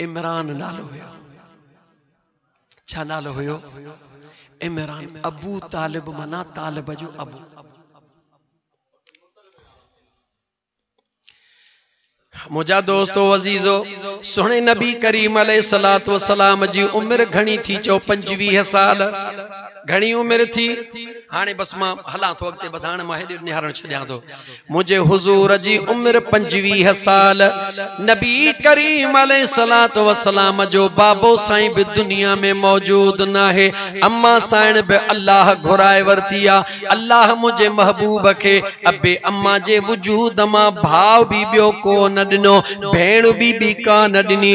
عمران نالو هيو. ڇا نالو هيو؟ عمران ابو طالب معنيٰ طالب جو ابو. منهنجا دوستو عزيزو سهڻي نبي ڪريم عليه الصلوۃ والسلام جي عمر گهڻي ٿي چئو 25 سال گهڻي عمر ٿي هاڻي بس مان هلان ٿو اڳتي بس هاڻي مان هيڏي نهارڻ ڇڏيان ٿو منهنجي حضور جي عمر پنجويهه سال، نبي ڪريم عليه الصلوة والسلام جو بابو سائين به دنيا ۾ موجود ناهي، اما سائڻ به الله گهرائي ورتي آ، الله منهنجي محبوب کي ابي اما جي وجود مان ڀاء به ٻيو ڪو نه ڏنو، ڀيڻ به ٻي ڪا نه ڏني،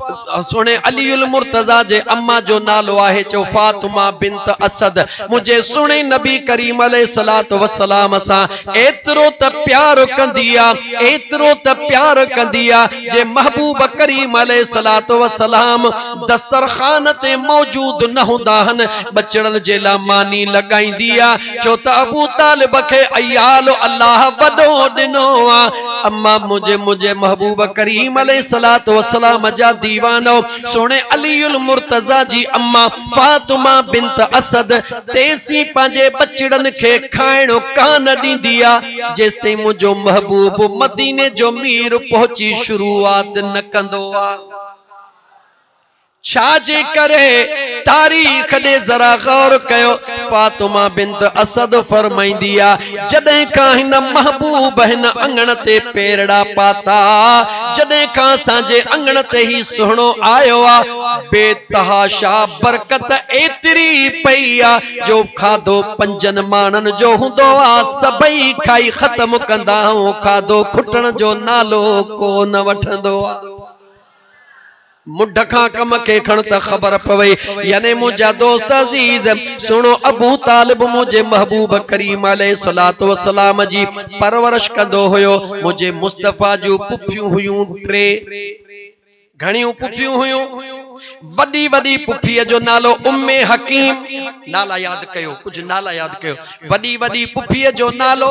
سهڻي علي المرتضيٰ جي اما جو نالو آهي چئو فاطمه بنت اسد منهنجي سهڻي نبي ڪريم عليه الصلوة والسلام سان ايترو ته پيار ڪندي آ ايترو ته پيار ڪندي آ جي محبوب ڪريم عليه الصلوة والسلام دسترخوان تي موجود نه هوندا هن ٻچڙن جي لا ماني لڳائيندي آ چئو ته ابو طالب کي عيال الله وڏو ڏنو آ اما منهنجي منهنجي محبوب ڪريم عليه الصلوة والسلام جا ديوان او سهڻي علي المرتضيٰ جي اما فاطمه بنت اسد تيسين پنهنجي ٻچڙن کي کائڻ ڪان ڏيندي آ جيستائين منهنجو محبوب مديني جو مير پهچي شروعات نه ڪندو آ. ڇا جي ڪري؟ تاريخ ڏي ذرا غور ڪيو، فاطمه بنت اسد فرمائيندي آ، جڏهن کان هن محبوب هن اڱڻ تي پيرڙا پاتا، جڏهن کان اسان جي اڱڻ تي هي سهڻو آيو آ، بي تحاشا برڪت ايتري پئي آ، جو کاڌو پنجن ماڻهن جو هوندو آ، سڀئي کائي ختم ڪندا ۽ کاڌو کٽڻ جو نالو ڪو نه وٺندو آ. مڍ کان ڪم کي کڻ ته خبر پوي يعني منهنجا دوست عزيز سهڻو ابو طالب منهنجي محبوب ڪريم عليه الصلوة والسلام جي پرورش ڪندو هيو منهنجي مصطفيٰ جون پڦيون هيون ٽي گهڻيون پڦيون هيون وڏي وڏي پڦيء جو نالو ام حڪيم نالا ياد ڪيو ڪجهه نالا ياد ڪيو وڏي وڏي پڦيء جو نالو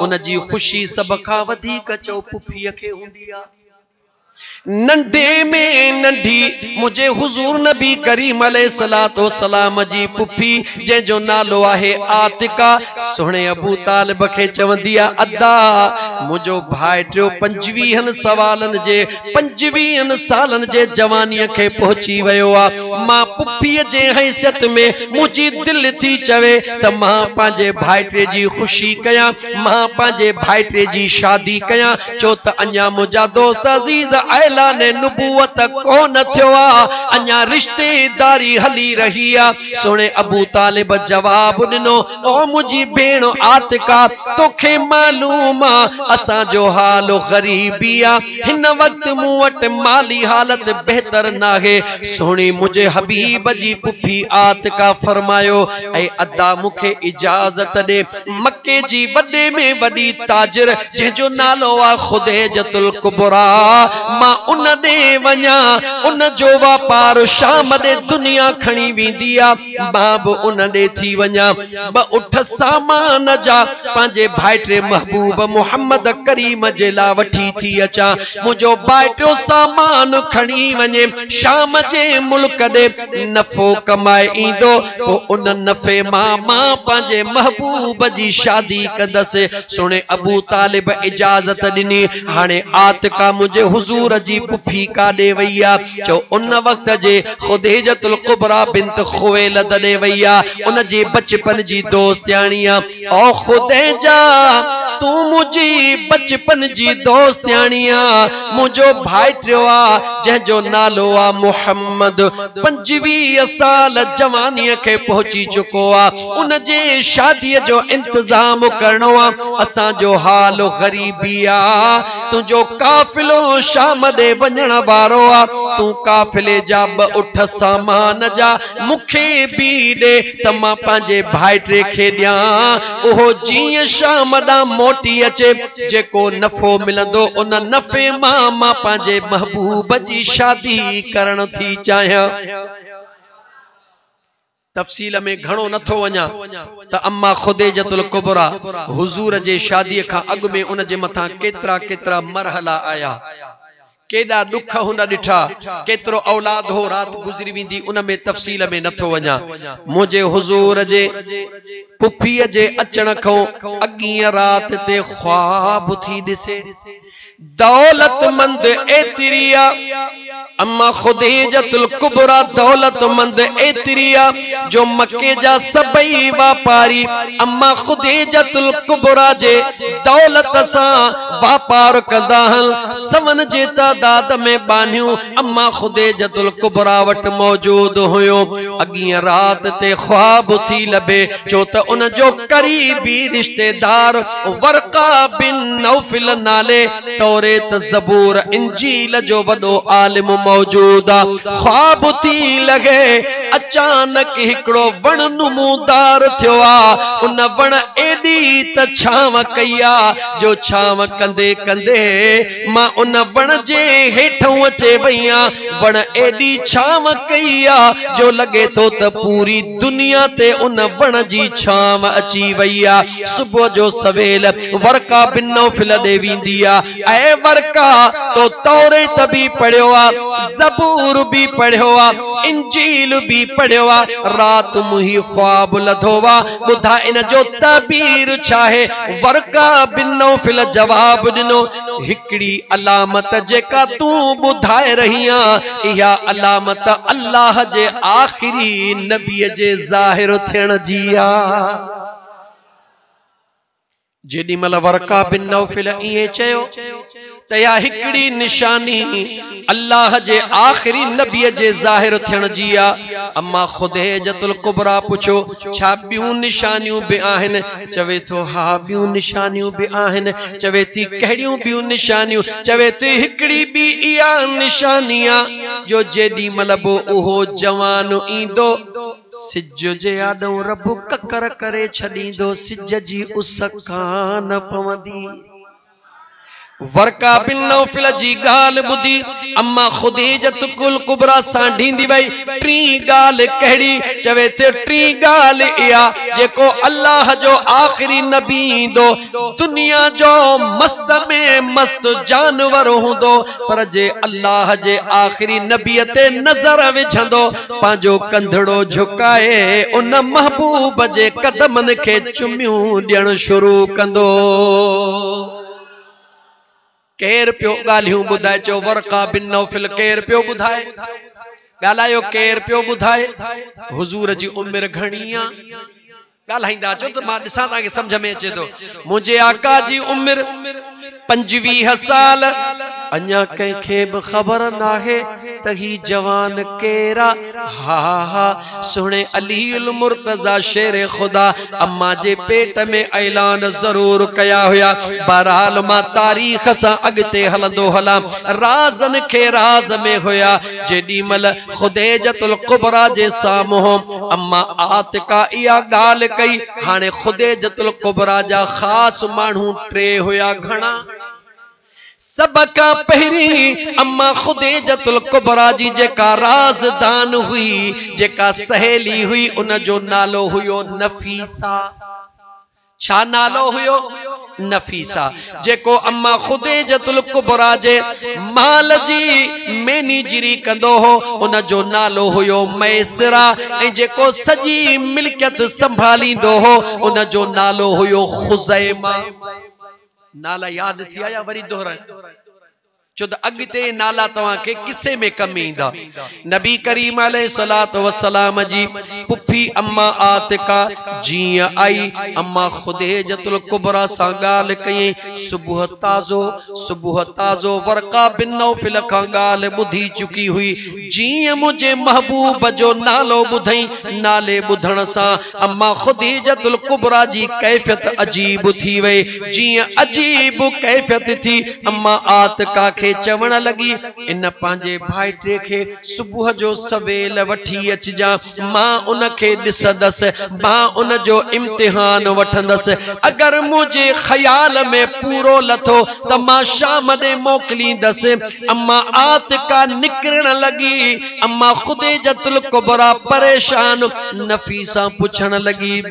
ان جي خوشي سڀ کان وڌيڪ چؤ پڦيء کي هوندي آ. ننڍي ۾ ننڍي منهنجي حضور نبي ڪريم عليه الصلوة والسلام جي پڦي جنهن جو نالو آهي عاتڪه سهڻي ابو طالب کي چوندي آ ادا منهنجو ڀائٽيو پنجويهن سوالن جي پنجويهن سالن جي جوانيء کي پهچي ويو آ. مان پڦيء جي حيثيت ۾ منهنجي دل ٿي چوي ته مان پنهنجي ڀائٽي جي خوشي ڪيان، مان پنهنجي ڀائٽي جي شادي ڪيان، ڇو ته اڃا منهنجا دوست عزيز اعلان نبوت ڪونه ٿيو آ، اڃا رشتيداري هلي رهي آ. سهڻي ابوطالب جواب ڏنو. او منهنجي ڀيڻ عاتقه توکي معلوم آ اسان جو حال غريبي آ هن وقت مون وٽ مالي حالت بهتر ناهي سهڻي منهنجي حبيب جي پڦي عاتقه فرمايو اي ادا مون کي اجازت ڏي مڪي جي وڏي ۾ وڏي تاجر جنهن جو نالو آ خديجة الڪبريٰ مان ان ڏي وڃان ان جو واپار شام ڏي دنيا کڻي ويندي آ. مان به ان ڏي ٿي وڃان. ٻه اٺ سامان جا پنهنجي ڀائٽي محبوب محمد ڪريم جي لاء وٺي ٿي اچان. منهنجو ڀائٽيو سامان کڻي وڃي شام جي ملڪ ڏي نفعو ڪمائي ايندو. پوء ان نفعي مان مان پنهنجي محبوب جي شادي ڪندس. سهڻي ابوطالب اجازت ڏني. هاڻي عاتڪه منهنجي حضور جي پڦي ڪاڏي وئي آ؟ جو ان وقت جي خديجة الڪبريٰ بنت خويلد ڏي وئي آ ان جي بچپن جي دوستياڻي آ او خديجة تون منهنجي بچپن جي دوستياڻي آ منهنجو ڀائٽيو آ جنهن جو نالو آ محمد پنجويهه سال جواني کي پهچي چڪو آ ان جي شادي جو انتظام ڪرڻو آ اسان جو حال غريبي آ تنهنجو قافلو شام ڏي وڃڻ وارو آ، تون قافلي جا ٻه اٺ سامان جا مون کي به ڏي ته مان پنهنجي ڀائٽي کي ڏيان، اهو جيئن شام ڏانهن موٽي اچي، جيڪو نفعو ملندو ان نفعي مان مان پنهنجي محبوب جي شادي ڪرڻ ٿي چاهيان. تفصيل ۾ گهڻو نه ٿو وڃان ته اما خديجة الڪبريٰ حضور جي شاديء کان اڳ ۾ ان جي مٿان ڪيترا ڪيترا مرحلا آيا، ڪيڏا ڏک هن ڏٺا، ڪيترو اولاد هو رات گذري ويندي ان ۾ تفصيل ۾ نه ٿو وڃان. منهنجي حضور جي پڦيء جي اچڻ کان اڳينء رات تي خواب ٿي ڏسي. دولتمند ايتريا، اما خديجة الڪبريٰ دولتمند ايتريا جو مڪي جا سڀئي واپاري اما خديجة الڪبريٰ جي دولت سان واپار ڪندا هن. سون جي تعداد ۾ ٻانهيون اما خديجة الڪبريٰ وٽ موجود هيون. اڳينء رات تي خواب ٿي لڀي ڇو ته ان جو قريبي رشتيدار ورقه بن نوفل نالي توريت، زبور، انجيل جو وڏو عالم موجود آ. خواب ٿي لڳي اچانڪ هڪڙو وڻ نمودار ٿيو آ. ان وڻ ايڏي ته ڇانو ڪئي آ جو ڇانو ڪندي ڪندي مان ان وڻ جي هيٺئون اچي وئي آ. وڻ ايڏي ڇانو ڪئي آ جو لڳي ٿو ته پوري دنيا تي ان وڻ جي ڇانو اچي وئي آ. صبح جو سويل ورقا بن نوفل ڏي ويندي آ. اي ورقا! تو توريت به پڙهيو آ، زبور به پڙهيو آ، انجيل به پڙهيو آ. رات مون هي خواب لڌو آ، ٻڌاء ان جو تعبير ڇا آهي؟ ورقا بن نوفل جواب ڏنو. هڪڙي علامت جيڪا تون ٻڌائي رهي آن، اها علامت الله جي آخري نبيء جي ظاهر ٿيڻ جي آ. جيڏي مهل ورقه بن نوفل ائين چيو ته اها هڪڙي نشاني الله جي آخري نبيء جي ظاهر ٿيڻ جي آ. اما خديجة الڪبريٰ پڇيو، ڇا ٻيون نشانيون به آهن؟ چوي ٿو، ها ٻيون نشانيون به آهن. چوي ٿي، ڪهڙيون ٻيون نشانيون؟ چوي ٿي، هڪڙي ٻي اها نشاني آ، جو جيڏي مهل به اهو جوان ايندو، سج جي آڏو رب ڪڪر ڪري ڇڏيندو، سج جي اس ڪانه پوندي. ورقه بن نوفل جي ڳالهه ٻڌي اما خديجة الڪبريٰ سانڍيندي وئي، ٽين ڳالهه ڪهڙي؟ چوي ٿي، ٽين ڳالهه اها، جيڪو الله جو آخري نبي ايندو، دنيا جو مست ۾ مست جانور هوندو، پر جي الله جي آخري نبيء تي نظر وجهندو، پنهنجو ڪنڌڙو جهڪائي ان محبوب جي قدمن کي چميون ڏيڻ شروع ڪندو. ڪير پيو ڳالهيون ٻڌائي؟ چيو ورقه بن نوفل ڪير پيو ٻڌائي؟ ڳالهايو ڪير پيو ٻڌائي؟ حضور جي عمر گهڻي آ؟ ڳالهائيندا اچو ته مان ڏسان توهان کي سمجهه ۾ اچي ٿو. منهنجي آقا جي عمر پنجويهه سال. اڃا ڪنهن کي به خبر ناهي ته هي جوان ڪير آ. ها ها سهڻي علي المرتضيٰ شير خدا امان جي پيٽ ۾ اعلان ضرور ڪيا هيا. بهرحال مان تاريخ سان اڳتي هلندو هلان. رازن کي راز ۾ هيا. جيڏي مهل. خديجة الڪبريٰ جي سامهون اما عاتڪه اها ڳالهه ڪئي. هاڻي خديجة الڪبريٰ جا خاص ماڻهو ٽي هيا. گهڻا؟ سڀ کان پهرين اما خديجة الڪبريٰ جي جيڪا رازدان هئي، جيڪا سهيلي هئي، ان جو نالو هيو نفيسه. ڇا نالو هيو؟ نفيسه، جيڪو اما خديجة الڪبريٰ جي مال جي مئنيجري ڪندو هو، ان جو نالو هيو ميسره ۽ جيڪو سڄي ملڪيت سنڀاليندو هو، ان جو نالو هيو خزيمه. نالا ياد ٿيا يا وري دهرائيان؟ ڇو ته اڳتي اهي نالا توهان کي قصي ۾ ڪم ايندا. نبي ڪريم عليه الصلوة والسلام جي پڦي اما عاتڪه جيئن آئي، اما خديجة الڪبريٰ سان ڳالهه ڪيائين، صبح تازو صبح تازو ورقه بن نوفل کان ڳالهه ٻڌي چڪي هئي، جيئن منهنجي محبوب جو نالو ٻڌئين، نالي ٻڌڻ سان اما خديجة الڪبريٰ جي ڪيفيت عجيب ٿي وئي، جيئن عجيب ڪيفيت ٿي اما عاتڪه کي چوڻ لڳي، ان پنهنجي ڀائٽي کي صبح جو سويل وٺي اچجان، مان ان کي ڏسندس، مان ان جو امتحان وٺندس، اگر منهنجي خيال ۾ پورو لٿو ته مان شام ڏي موڪليندس. اما عاتڪه نڪرڻ لڳي. اما خديجه الڪبريٰ پريشان نفيسان پڇڻ لڳي.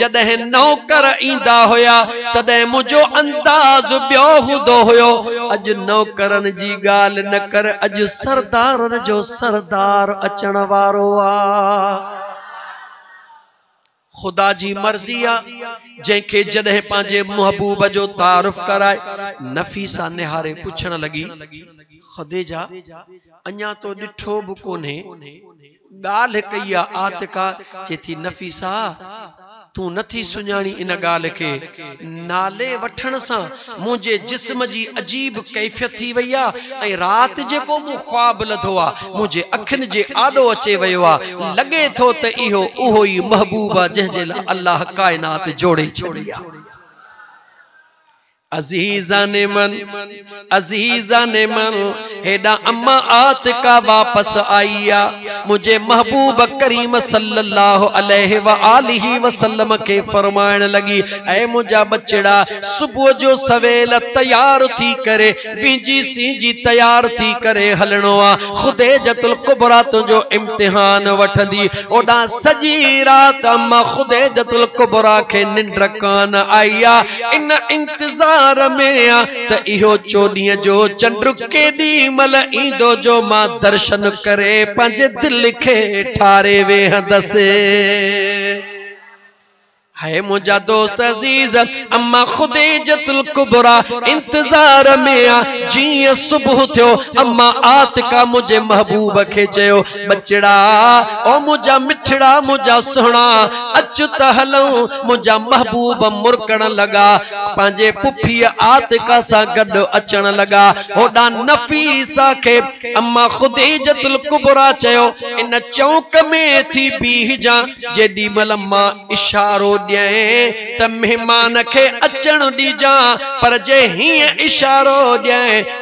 جڏهن نوڪر ايندا هيا تڏهن منهنجو انداز ٻيو هوندو هيو، اڄ نوڪرن جي ڳالهه نه ڪر اڄ سردارن جو سردار اچڻ وارو آ. خدا جي مرضي آ جنهن کي جڏهن پنهنجي محبوب جو تعارف ڪرائي نفيسه نهاري پڇڻ لڳي، خديجه اڃا تو ڏٺو به ڪونهي؟ ڳالهه ڪئي آ عاتقه، چي ٿي نفيسه تون نه ٿي سڃاڻين ان ڳالهه کي، نالي وٺڻ سان منهنجي جسم جي عجيب ڪيفيت ٿي وئي آ ۽ رات جيڪو مون خواب لڌو آ منهنجي اکين جي آڏو اچي ويو آ، لڳي ٿو ته اهو اهو ئي محبوب آ جنهن جي لاء الله ڪائنات جوڙي ڇڏي آ. عزيزان من عزيزان من هيڏا اما عاتقه واپس آئي آ منهنجي محبوب ڪريم صلي الله عليه واٰله وسلم کي فرمائڻ لڳي اي منهنجا ٻچڙا صبح جو سويل تيار ٿي ڪري وينجي سينجي تيار ٿي ڪري هلڻو آ خديجه الڪبريٰ تنهنجو امتحان وٺندي اوڏانهن سڄي رات اما خديجه الڪبريٰ کي ننڊ ڪانه آئي آ ان انتظار ۾ آ ته اهو چوڏهين جو چنڊ ڪيڏي مهل ايندو جو مان درشن ڪري پنهنجي دل کي ٺاري ويهندس. هي منهنجا دوست عزيز، اما خديجة الڪبريٰ انتظار ۾ آ. جيئن صبح ٿيو، اما عاتڪه منهنجي محبوب کي چيو ٻچڙا او منهنجا مٺڙا منهنجا سهڻا اچ ته هلون منهنجا محبوب مرڪڻ لڳا پنهنجي پڦيء عاتقه سان گڏ اچڻ لڳا هوڏانهن نفيسه کي اما خديجة الڪبريٰ چيو ان چونڪ ۾ ٿي بيهجان جيڏي مهل مان اشارو ڏيئين ته مهمان کي اچڻ ڏجان پر جي هيئن اشارو ڏيئين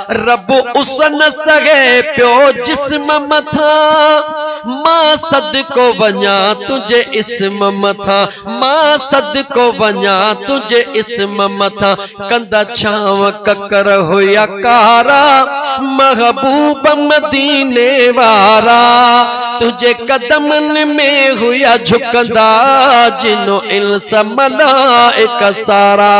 رب اس نه سهي پيو جسم مٿان مان صدقو وڃان تنهنجي اسم مٿان مان صدقو وڃان تنهنجي اسم مٿان ڪندا ڇانو ڪڪر هيا ڪارا محبوب مديني وارا تنهنجي قدمن ۾ هيا جهڪندا جنو انس ملائڪ سارا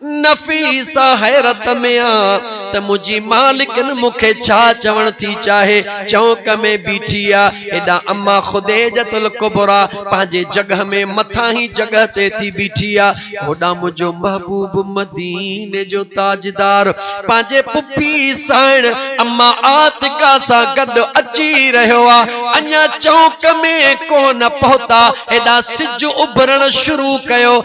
نفيسه حيرت ۾ آ ته منهنجي مالڪن مون کي ڇا چوڻ ٿي چاهي، چونڪ ۾ بيٺي آ. هيڏانهن اما خديجة الڪبريٰ پنهنجي جڳهه ۾ مٿانهين جڳهه تي ٿي بيٺي آ. هوڏانهن منهنجو محبوب مديني جو تاجدار پنهنجي پڦي سائڻ اما عاتڪه سان گڏ اچي رهيو آ. اڃا چونڪ ۾ ڪونه پهتا، هيڏانهن سج اڀرڻ شروع ڪيو.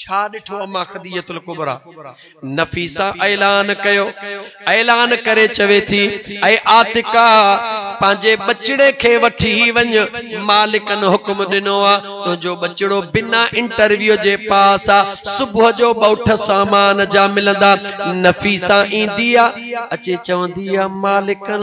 ڇا ڏٺو اما خديجة الڪبريٰ نفيسه اعلان ڪيو اعلان ڪري چوي ٿي اي عاتقه پنهنجي ٻچڙي کي وٺي وڃ مالڪن حڪم ڏنو آ تنهنجو ٻچڙو بنا انٽرويو جي پاس آ صبح جو ٻئوٺ سامان جا ملندا نفيسه ايندي آ اچي چوندي آ مالڪن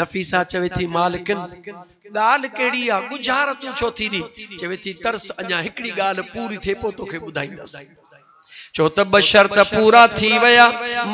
نفيسه چوي ٿي مالڪن! ڳالهه ڪهڙي آ، ڳجهارا تون ڇو ٿي ڏين؟ چوي ٿي ترس اڃا هڪڙي ڳالهه پوري ٿئي پوء توکي ٻڌائيندس. ڇو ته ٻه شرط پورا ٿي ويا.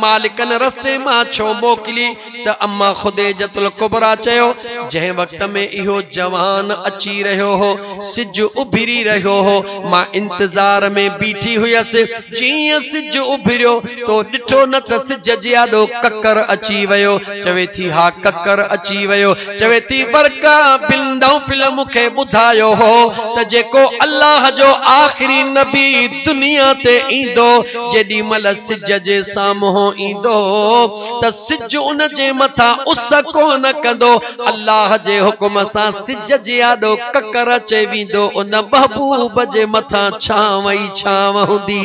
مالڪن رستي مان ڇو موڪلي ته اما خديجة الڪبريٰ چيو، جنهن وقت ۾ اهو جوان اچي رهيو هو، سج اڀري رهيو هو، مان انتظار ۾ بيٺي هيس، جيئن ئي سج اڀريو تو ڏٺو نه ته سج جي آڏو ڪڪر اچي ويو، چوي ٿي ها ڪڪر اچي ويو. چوي ٿي ورقه بن نوفل مون کي ٻڌايو هو ته جيڪو الله جو آخري نبي دنيا تي ايندو جيڏي مهل سج جي سامهون ايندو ته سج ان جي مٿان اس ڪونه ڪندو الله جي حڪم سان سج جي آڏو ڪڪر اچي ويندو ان محبوب جي مٿان ڇانو ئي ڇانو هوندي.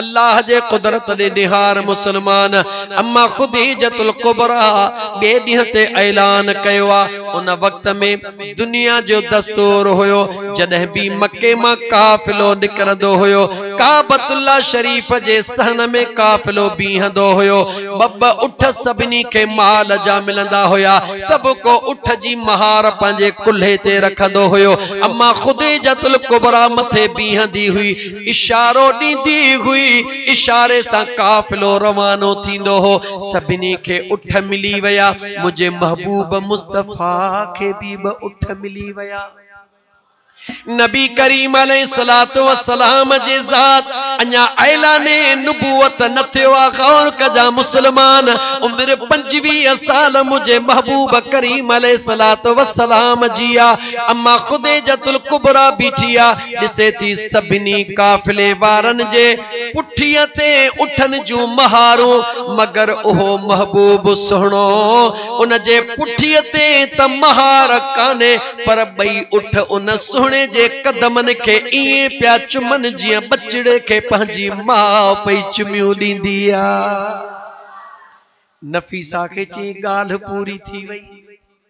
الله جي قدرت ڏي نهار مسلمان اما خديجة الڪبريٰ ٻئي ڏينهن تي اعلان ڪيو آ ان وقت ۾ دنيا جو دستور هيو جڏهن به مڪي مان قافلو نڪرندو هيو ڪعبة الله شريف جي صحن ۾ قافلو بيهندو هيو ٻه ٻه اٺ سڀني کي مال جا ملندا هيا سڀ ڪو اٺ جي مهار پنهنجي ڪلهي تي رکندو هيو اما خديجة الڪبريٰ مٿي بيهندي هئي اشارو ڏيندي هئي، اشاري سان قافلو روانو ٿيندو هو، سڀني کي اٺ ملي ويا، منهنجي محبوب مصطفيٰ کي به ٻه اٺ ملي ويا. نبي ڪريم عليه الصلوة والسلام جي ذات اڃا اعلان نبوت نه ٿيو آ، غور ڪجان مسلمان، عمر پنجويهه سال منهنجي محبوب ڪريم عليه الصلوة والسلام جي آ، اما خديجة الڪبريٰ بيٺي آ، ڏسي ٿي سڀني قافلي وارن جي پٺيء تي اٺن جون مهارون، مگر اهو محبوب سهڻو، ان جي پٺيء تي ته مهار ڪانهي، پر ٻئي اٺ ان سهڻي جي قدمن کي ائين پيا چمن جيئن ٻچڙي کي پنهنجي ماء پئي چميون ڏيندي آ. نفيسه کي چيائين ڳالهه پوري ٿي وئي.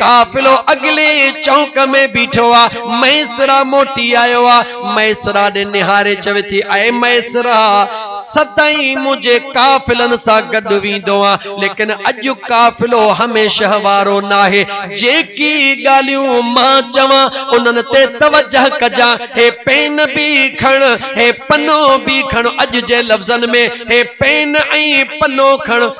قافلو اڳلي ئي چونڪ ۾ بيٺو آ، ميسرا موٽي آيو آ، ميسرا ڏي نهاري چوي ٿي، اي ميسرا! سدائين منهنجي قافلن سان گڏ ويندو آن، ليڪن اڄ قافلو هميشه وارو ناهي، جيڪي ڳالهيون مان چوان، انهن تي توجه ڪجان، هي پين به کڻ، هي پنو به کڻ، اڄ جي لفظن ۾ هي پين ۽ پنو کڻ،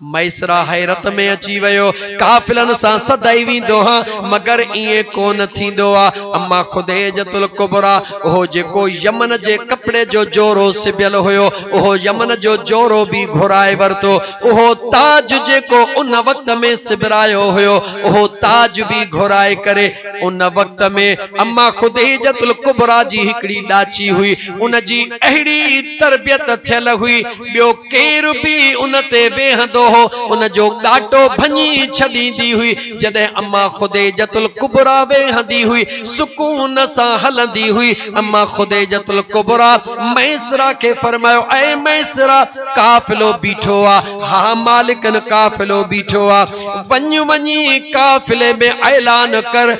ميسره حيرت ۾ اچي ويو، قافلن سان سدائين ويندو هان، مگر ائين ڪو نه ٿيندو آ. اما خديجة الڪبريٰ، اهو جيڪو يمن جي ڪپڙي جو جورو سبيل هيو، اهو يمن جو جورو به گهرائي ورتو. اهو تاج جيڪو ان وقت ۾ سبرايو هيو، اهو تاج به گهرائي ڪري. ان وقت ۾ اما خديجة الڪبريٰ جي هڪڙي ڏاچي هئي، ان جي اهڙي. تربيت ٿيل هئي، ٻيو ڪير به ان تي ويهندو هو، ان جو ڳاٽو ڀڃي ڇڏيندي هئي. جڏهن اما خديجة الڪبريٰ ويهندي هئي، سڪون سان هلندي هئي. اما خديجة الڪبريٰ ميسره کي فرمايو، اي ميسره! قافلو بيٺو آ. ها مالڪن قافلو بيٺو آ. وڃ وڃي قافلي ۾ اعلان ڪر.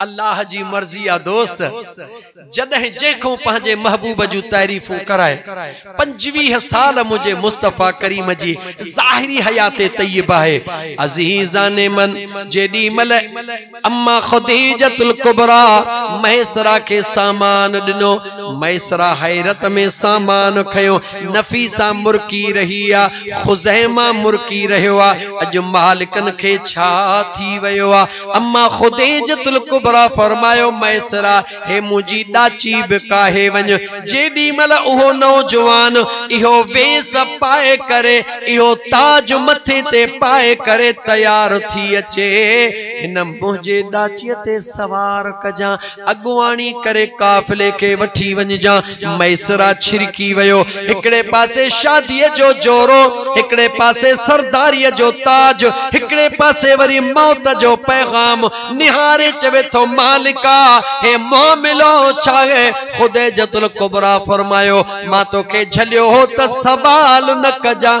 الله جي مرضي آ دوست جڏهن جنهن کون پنهنجي محبوب جون تعريفون ڪرائي پنجويهه سال منهنجي مصطفيٰ ڪريم جي ظاهري حيات طيب آهي عزيزان من جيڏي مهل اما خديجة الڪبريٰ ميسرا کي سامان ڏنو ميسرا حيرت ۾ سامان کنيو نفيسا مرڪي رهي آ خزيمه مرڪي رهيو آ اڄ مالڪن کي ڇا ٿي ويو آ اما خديجة الڪبريٰ فرمايو ميسرا هي منهنجي ڏاچي به ڪاهي وڃ جيڏي مهل اهو نوجوان اهو ويس پائي ڪري اهو تاج مٿي تي پائي ڪري تيار ٿي اچي هن منهنجي ڏاچي تي سوار ڪجان اڳواڻي ڪري قافلي کي وٺي وڃجان ميسرا ڇرڪي ويو. هڪڙي پاسي شاديء جو جورو، هڪڙي پاسي سرداريء جو تاج، هڪڙي پاسي وري موت جو پيغام. نهاري چوي ٿو مالڪا! هي معاملو ڇاهي؟ خديجه الڪبريٰ فرمايو، مان توکي جهليو هو ته سوال نه ڪجان.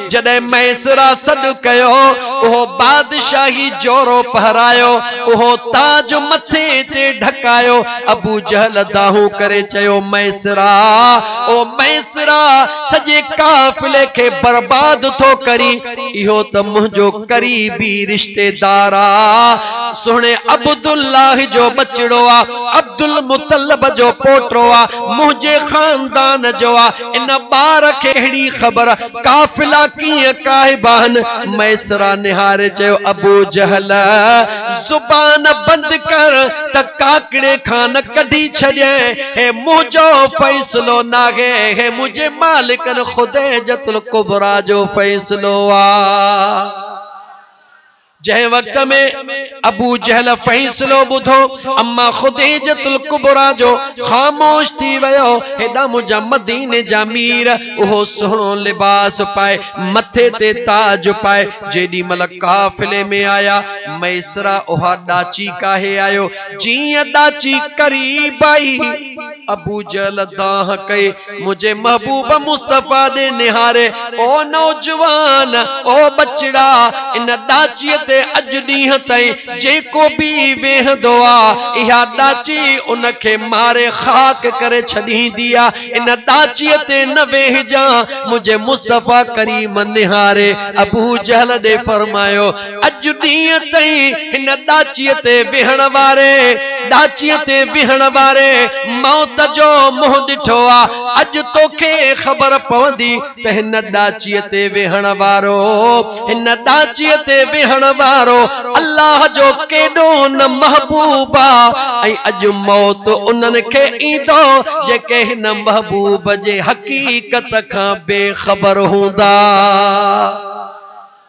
جڏهن ميسرا سڏ ڪيو، اهو بادشاهي جورو پهرايو، اهو تاج مٿي تي ڍڪايو. ابو جهل دانهون ڪري چيو، ميسرا! او ميسرا! سڄي قافلي کي برباد ٿو ڪرين، اهو ته منهنجو قريبي رشتيدار آ، سهڻي عبدالله جو ٻچڙو آ، عبدالمطلب جو پوٽو آ، منهنجي خاندان جو آ. ان ٻار کي اهڙي خبر قافلا ڪيئن ڪاهي باهن ميسرا نهاري چيو ابو جهل زبان بند ڪر ته ڪاڪڙي کان نه ڪڍي ڇڏينء هي منهنجو فيصلو ناهي هي منهنجي مالڪن خديجه الڪبريٰ جو فيصلو آ. جنهن وقت ۾ ابو جهل فيصلو ٻڌو، اما خديجة الڪبريٰ جو خاموش ٿي ويو، هيڏانهن منهنجا مديني جا مير اهو سهڻو لباس پائي، مٿي تي تاج پائي جيڏي مهل قافلي ۾ آيا، ميسره اها ڏاچي ڪاهي آيو، جيئن ڏاچي قريب آئي. ابوجهل دانهن ڪئي منهنجي محبوب مصطفيٰ ڏي نهاري، او نوجوان! او ٻچڙا! ان ڏاچيء تي اڄ ڏينهن تائين جيڪو به ويهندو آ، اها ڏاچي ان کي ماري خاڪ ڪري ڇڏيندي آ. ان ڏاچيء تي نه ويهجان. منهنجي مصطفيٰ ڪريم نهاري ابوجهل ڏي فرمايو. اڄ ڏينهن تائين هن ڏاچيء تي ويهڻ واري، ڏاچيء تي ويهڻ واري موت جو منهن ڏٺو آ. اڄ توکي خبر پوندي ته هن ڏاچيء تي ويهڻ وارو، هن ڏاچيء تي ويهڻ وارو الله جو ڪيڏو نه محبوب آ ۽ اڄ موت انهن کي ايندو جيڪي هن محبوب جي حقيقت کان بي خبر هوندا.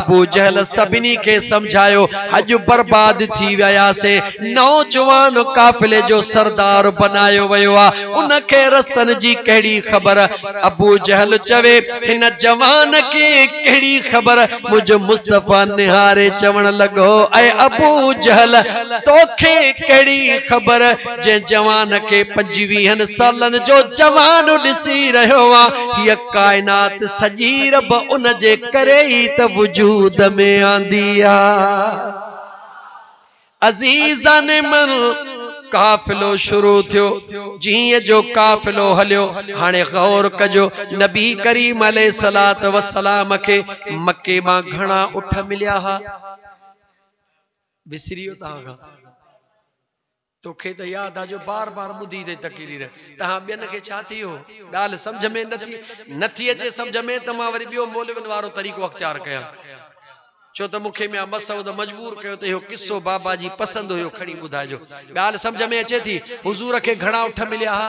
ابو جهل سڀني کي سمجهايو، اڄ برباد ٿي وياسين، نوجوان قافلي جو سردار بنايو ويو آ، ان کي رستن جي ڪهڙي خبر؟ ابو جهل چوي، هن جوان کي ڪهڙي خبر؟ منهنجو مصطفيٰ نهاري چوڻ لڳو، اي ابو جهل! توکي ڪهڙي خبر؟ جنهن جوان کي پنجويهن سالن جو جوان ڏسي رهيو آ، هيء ڪائنات سڄي رب ان جي ڪري ئي ته وجود ۾ آندي آ. عزيزان من! قافلو شروع ٿيو، جيئن جو قافلو هليو، هاڻي غور ڪجو، نبي ڪريم عليه الصلوة والسلام کي مڪي مان گهڻا اٺ مليا ها؟ وسري ويو توهان کان. توکي ته ياد آ جو بار بار ٻڌي اٿئي تقرير تنهان ٻين کي ڇا ٿي اهو ڳالهه سمجهه ۾ نه ٿي نه ٿي اچي سمجهه ۾ ته مان وري ٻيو مولوين وارو طريقو اختيار ڪيان ڇو ته مونکي ميان مسعود مجبور ڪيو ته اهو قصو بابا جي پسند هيو کڻي ٻڌائجو ڳالهه سمجهه ۾ اچي ٿي حضور کي گهڻا اٺ مليا ها.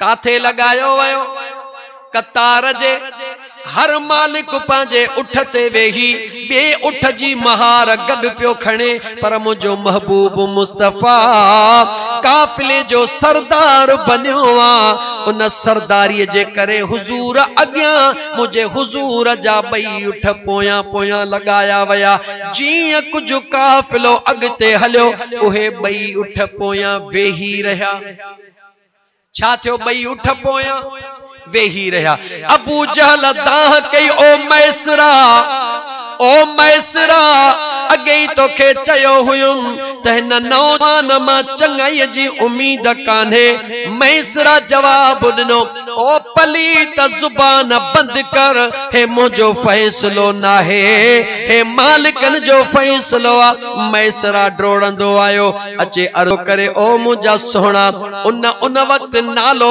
ڪاٿي لڳايو ويو؟ قطار جي هر مالڪ پنهنجي اٺ تي ويهي ٻئي اٺ جي مهار گڏ پيو کڻي پر منهنجو محبوب مصطفيٰ قافلي جو سردار بنيو آ ان سرداري جي ڪري حضور اڳيان منهنجي حضور جا ٻئي اٺ پويان پويان لڳايا ويا جيئن ڪجهه قافلو اڳتي هليو اهي ٻئي اٺ پويان ويهي رهيا. ڇا ٿيو؟ ٻئي اٺ پويان ويهي رهيا. ابو جهل دانهن ڪئي، او ميسره! او ميسره! اڳي ئي توکي چيو هيم ته هن نوجوان مان چڱائيء جي اميد ڪانهي. ميسره جواب ڏنو، او پليت! زبان بند ڪر. هي منهنجو فيصلو ناهي. هي مالڪن جو فيصلو آ. ميسره ڊوڙندو آيو. اچي عرض ڪري او منهنجا سهڻا ان ان وقت نالو